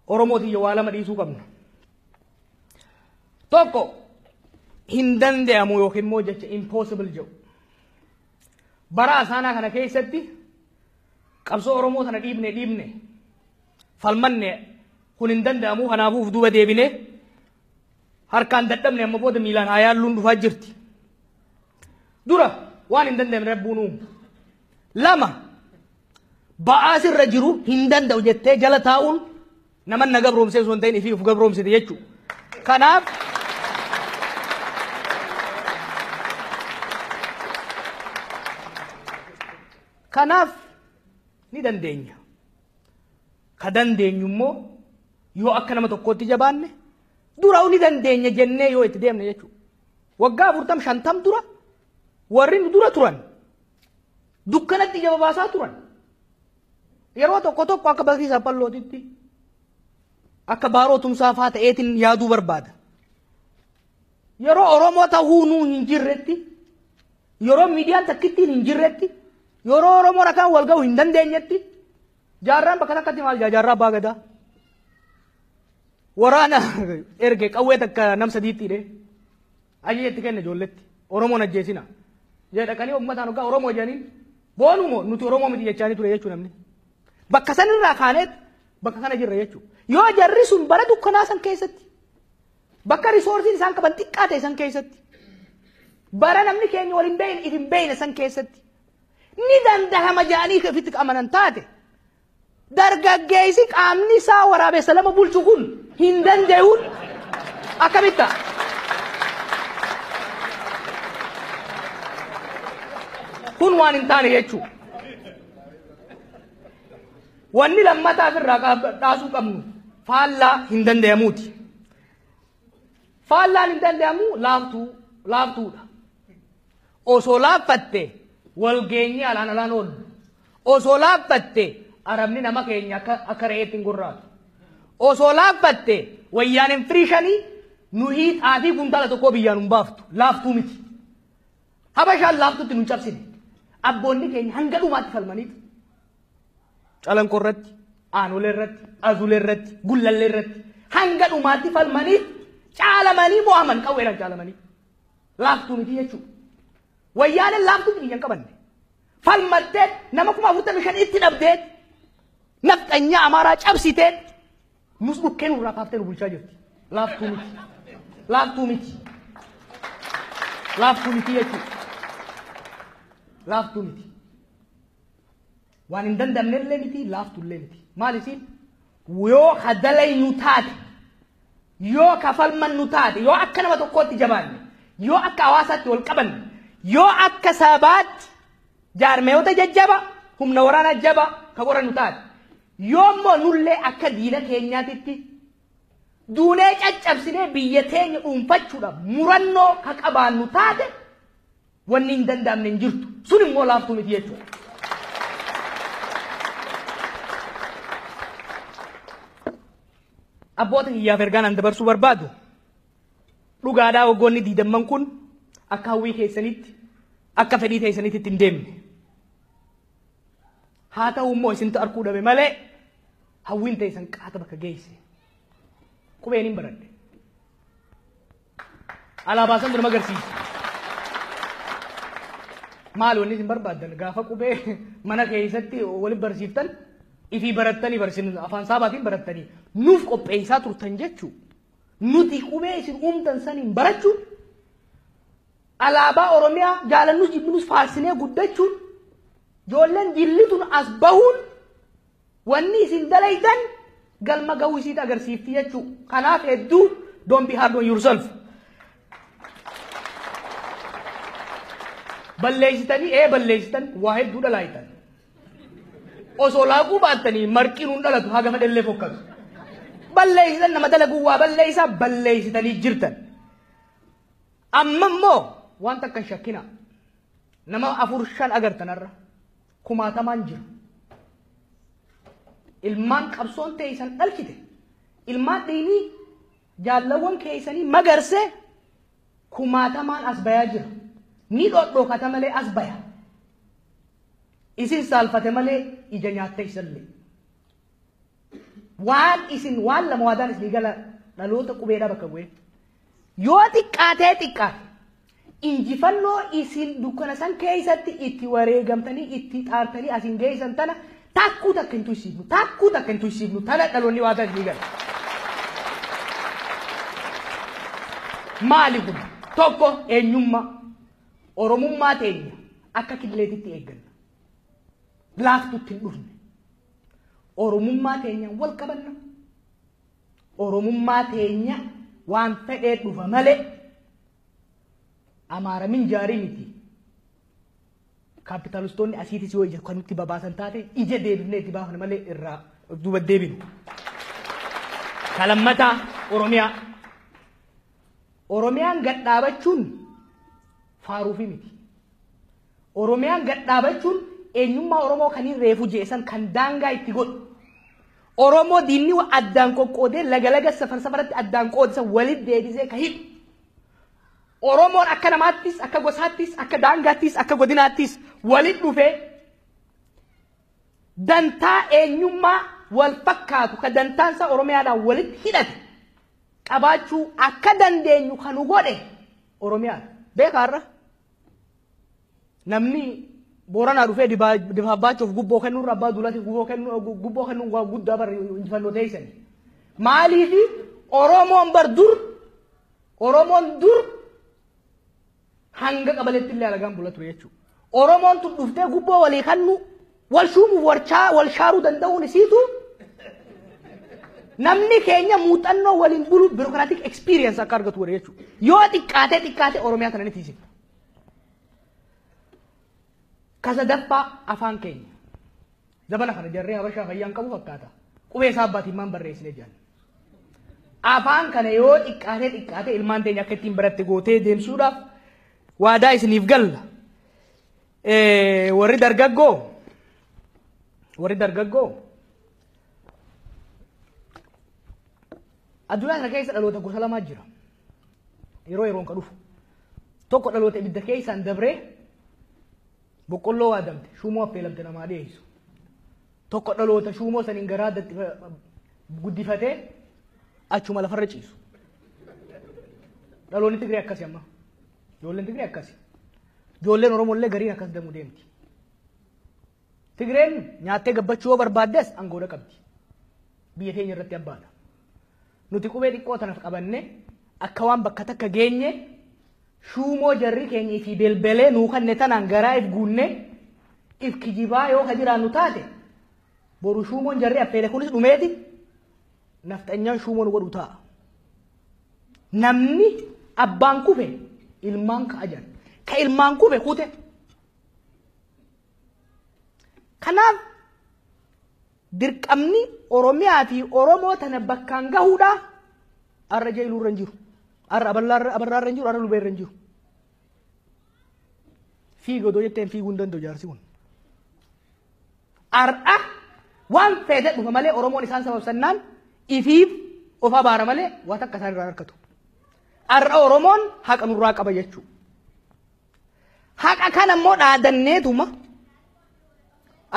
Oromoo tiyya waa lama dhiisuu qabna. Tokko hin danda'amu yookiin immoo jecha impossible jedhu. Bara asaanaa kana keessatti qabsoo Oromoo tana dhiibne dhiibne falmanne kun hin danda'amu kanaafuu of duuba deebine harkaan dadhabne amma booda miilaan haa yaalluun dhufaa jirti. dura waan hin danda'amne rabbuun uumu lama ba'aa sirra jiru hin danda'u jettee jala taa'uun naman na gabroomsee osoo hin ta'in ifii of gabroomsite jechuudha. Kanaaf kanaaf ni dandeenya. Ka dandeenyu immoo yoo akka nama tokkootti jabaanne duraa'u ni dandeenya jennee yoo itti deemne jechuudha. Waggaa afurtam shantam dura warri nu dura turan dukkanatti ija babaasaa turan. Yeroo tokko tokko akka bakii saphallootitti akka baaroo tumsaa faa ta'eetiin yaaduu barbaada. Yeroo Oromoo ta'uu nuu hin jirretti yeroo miidiyaan takkittiin hin jirretti yeroo Oromoo rakaan wal ga'u hin dandeenyetti Jaarraan bakka takkatti maal jaa jaarraa abbaa gadaa. Waraana erge qawwee takka nam sadiitti hidhee ajaja itti kenne ijoolletti Oromoon ajjeesina. Jee dhaqanii uummataan hoggaa Oromoo jedhaniin boonuu moo nuti Oromoo miti jechaanii ture jechuu namni. Bakka sanirraa kaaneet bakka kana jirra jechuu. Yoo jarri sun bara dukkanaa san keessatti bakka risoorsiin isaan qaban xiqqaa ta'e san keessatti bara namni keenya waliin beeyne itin beeyne san keessatti ni dandahama jedhanii ka ofitti amanan taate dargaggeessi qaamni isaa waraabessa lama bulchu kun hin danda'uun akkamitti ta'a? Kun waan hin taane jechuudha. Wanni lammataaf irraa qaab- dhaasuu qabnu faallaa hin danda'amuuti. Faallaan hin danda'amu laaftuu laaftuudha. Osoo laaffatte wal geenyee alaan alaan oollu. Osoo laaffatte arabni nama keenya akka akka re'eetti hin gorraatu. Osoo laaffatte wayyaan hin firiishanii nuhii xaafii kuntaala tokkoo biyyaan hin baaftu laaftuu miti. Habashaan laaftutti nu cabsine. Abboonni keenya hanga dhumaatti falmaniitu. Calanqoo irratti, Aanolee irratti, Azulee irratti, Gullallee irratti hanga dhumaatti falmanii caalamanii mo'aman qawweedhaan caalamanii. Laaftuu miti jechuudha. Wayyaaneen laaftuu miti hin qabanne. Falmattee nama kuma afurtamii shan itti dhabdee nafxanyaa Amaaraa cabsitee nus dhukkee nurraa kaaftee nu bulchaa jirti. Laaftuu miti. Laaftuu miti. Laaftuu miti jechuudha. Laaftuu miti. Waan hin danda'amnellee miti laaftullee miti. Maal isiin? Yoo ka dalaynu taate, yoo ka falmannu taate, yoo akka nama tokkootti jabaanne, yoo akka hawaasaatti wal qabanne, yoo akka sabaatti jaarmayoota jajjaba, humna waraanaa jaba ka qorannu taate, yoo immoo nullee akka diina keenyaatitti duulee caccabsinee biyya teenya dhuunfachuudhaaf murannoo ka qabaannu taate, Wanni hin danda'amne hin jirtu. Sun immoo laaftuu miti jechuudha. Abboota kiyyaaf ergaan an dabarsuu barbaadu dhugaadhaa waggoonni diidamman kun akka hawwii keessanitti akka fedhii keessanitti itti hin deemne. Haa ta'u immoo isintu arguu dhabe malee hawwiin teessan qaata bakka geesse. Qubeen hin baradhe. Alaabaa san nama agarsiisa. Maal wanni isin barbaaddan gaafa qubee mana keessatti waliin barsiiftan ifii barattanii barsiin afaan saabaatiin barattanii nuuf qopheessaa turtan jechuu nuti qubee isin uumtan saniin barachuun alaabaa Oromiyaa jaalannus jibbinus faarsinee guddachuun ijoolleen jillituun as bahuun Wanni isin dalaydan galma gahuu isiit agarsiifti jechuu. Kanaaf hedduu don't be hard on yourself. Balleessitanii ee balleessitan waa hedduu dhalaaytan. Osoo laaquu baattanii marqiin hin dhalatu haga fedhellee fokkatu. Balleessitan nama dalaguu waa balleessaa balleessitanii jirtan. Amma immoo waan takkan shakkina. Nama afur shan agartanarra. kumaatamaan jira. Ilmaan qabsoon teeysan dhalchite. Ilmaan dhiinii jaallawwan keeysanii magarsee kumaatamaan as bayaa jira. Ni dhodhookata malee as baya. Isin saalfate malee ija nyaatteysallee. Waan isin waan lama waadaan isinii gala dhaloota qubeedhaa bakka bu'ee. Yoo xiqqaatee xiqqaate injifannoo isin dukkana san keessatti itti wareegamtanii itti xaartanii asin geessan tana takkuu takka hin tuysiifnu takkuu takka hin tuysiifnu tana dhaloonni waadaa isinii gala. Maali kun tokko eenyummaa oromummaa teenya akka killeetitti eegganna. Laaftutti hin dhufne. Oromummaa teenyaan wal qabanna. Oromummaa teenya waan fedhee dhufa malee amaara minjaarii miti. Kaapitaalistoonni asiitis yoo ija kan nutti babaasan taate ija deebifnee itti baafna malee irraa of duuba deebinu. Kalammataa Oromiyaa. Oromiyaan gad dhaabachuun faaruufi miti. Oromiyaan gad dhaabachuun eenyummaa Oromoo kan hin reefu je'e san kan daangaa itti godhu. Oromoo diinni wa addaan qoqqoodee laga laga safar safaratti addaan qoodisa walit deebisee ka hidhu. Oromoon akka namaattis, akka gosaattis, akka daangaattis, akka godinaattis walit dhufee dantaa eenyummaa wal fakkaatu ka dantaan isaa Oromiyaadhaan walit hidhate qabaachuu akka dandeenyu kan nu godhe Oromiyaadha. Beekaa har'a? namni booranaa dhufee dibaabbaachuuf gubboo kennuurra abbaa duulaatiif gubboo kennu gubboo kennu waa guddaa bar injifannoo teessan. Maaliif Oromoon bar dur Oromoon dur hanga qabaletti illee alagaan bula ture jechuudha. Oromoon tun dhuftee gubboo walii kennu wal shuumuuf warchaa wal shaaruu danda'uun isiitu namni keenya muuxannoo waliin bulu birokraatik experience akka argatu godhe jechuudha. Yoo xiqqaatee xiqqaatee Oromiyaa tana ni tiisifna. Kasadaffaa afaan keenya. Zabana kana jarree habashaa fayyaan qabu fakkaata. Qubee isaa abbaatiin maan barreessine jedhan. Afaan kana yoo xiqqaatee xiqqaatee ilmaan teenya akka ittiin baratti gootee deemsuudhaaf waadaa isiniif galla. Warri dargaggoo warri dargaggoo addunyaa kana keessa dhaloota gosa lamaa jira. yeroo yeroon ka dhufu tokko dhaloota ibidda keessaan dabree boqqolloo waadamte shuumoo affeelamte namaa dhiyeessu tokko dhaloota shuumoo saniin garaa guddifatee achuma lafarra ciisu dhaloonni Tigree akkasi amma ijoolleen Tigree akkasi ijoolleen Oromoo illee gariin akkas damuu deemti Tigreen nyaattee gabbachuu yoo barbaaddes angoodha qabdi biyya teenya irratti abbaadha. Nuti qubee xiqqoo tanaf qabannee akka waan bakka takka geenye shuumoo jarri keenya ifii belbelee nuu kanne tanaan garaa if guunne if kijibaa yoo ka jiraannu taate boru shuumoon jarri affeele kunis dhumeeti nafxanyaan shuumoo nu godhu ta'a. Namni abbaan kufe ilmaan ka'a jedhan. Ka ilmaan kufe kute. Kanaaf Dirqamni Oromiyaa fi Oromoo tana bakkaan gahuudha. Arra Jailuu irra hin jiru. Arra Abarraa irra hin jiru. Arra Lubee irra hin jiru. Fiigi odoo jetteen fiiguu hin danda'u jaarsi kun. Ar'a waan feete dhufa malee Oromoon isaan sababsannaan ifiif of abaara malee waan takka isaan irraa harkatu. Ar'a Oromoon haqa nurraa qaba jechuudha. Haqa kana immoo dhaadanneetuma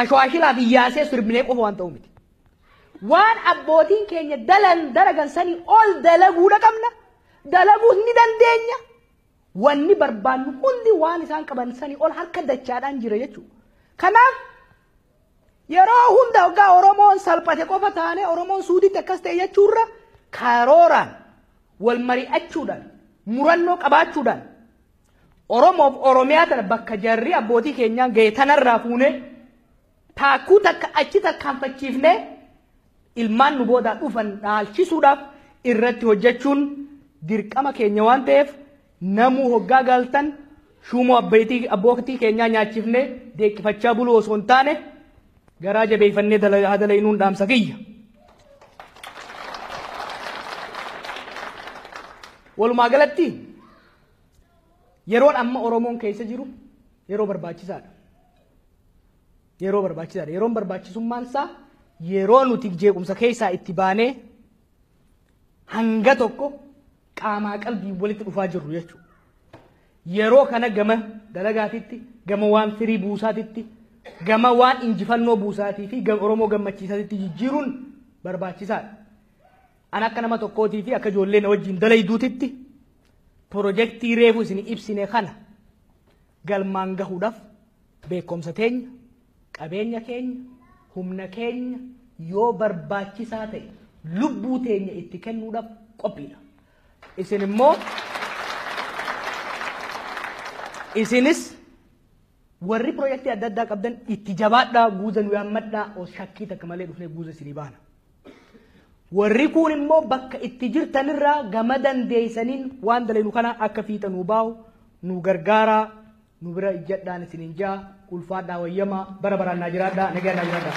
ashwaashilaa fi yaasee sirbinee qofa waan ta'u miti. Waan abbootiin keenya dalan dalagan sanii ol dalaguudha qabna. Dalaguus ni dandeenya. Wanni barbaannu hundi waan isaan qaban sanii ol harka dachaadhaan jira jechuudha. Kanaaf yeroo hunda hoggaa Oromoon salphate qofa taanee Oromoon suuditti akkas ta'e jechuurra karooraan wal mari'achuudhaan murannoo qabaachuudhaan Oromoof Oromiyaa tana bakka jarri abbootii keenyaan ga'e tanarraa fuunee taakkuu takka achi tarkaanfachiifnee ilmaan nu boodaa dhufan dhaalchisuudhaaf irratti hojjechuun dirqama keenya waan ta'eef namuu hoggaa galtan shuumoo abbeetii- abbootii keenyaa nyaachifnee deeqqifachaa buluu osoo hin taane garaa jabeeffannee dala- haa dalaynuun dhaamsa kiyya. Walumaa galatti Yeroon amma Oromoon keessa jiru yeroo barbaachisaadha. Yeroo barbaachisaadha. Yeroon barbaachisummaan isaa yeroo nuti jeequmsa keessaa itti baanee hanga tokko qaamaa qalbiin walitti dhufaa jirru jechuudha. Yeroo kana gama dalagaatitti, gama waan firii buusaatitti, gama waan injifannoo buusaatii fi gama Oromoo gammachiisaatitti jijjiiruun barbaachisaadha. An akka nama tokkootii fi akka ijoollee na wajjin dalayduutitti Pirojektii reefu isin ibsine kana galmaan gahuudhaaf beekumsa teenya, qabeenya keenya, humna keenya yoo barbaachisaa ta'e lubbuu teenya itti kennuudhaaf qophiidha. Isin immoo isinis Warri pirojektii adda addaa qabdan itti jabaadhaa guuza nu yaammadhaa os shakkii takka malee dhufnee guuza isinii baana. Warri kuun immoo bakka itti jirtanirraa gama dandeeysaniin waan dalaynu kana akka fiixa nuu baahu nu gargaaraa nu bira ijjadhaan isiniin jaa ulfaadhaa wayyamaa bara baraan naa jiraadhaa nagaa naa jiraadhaa.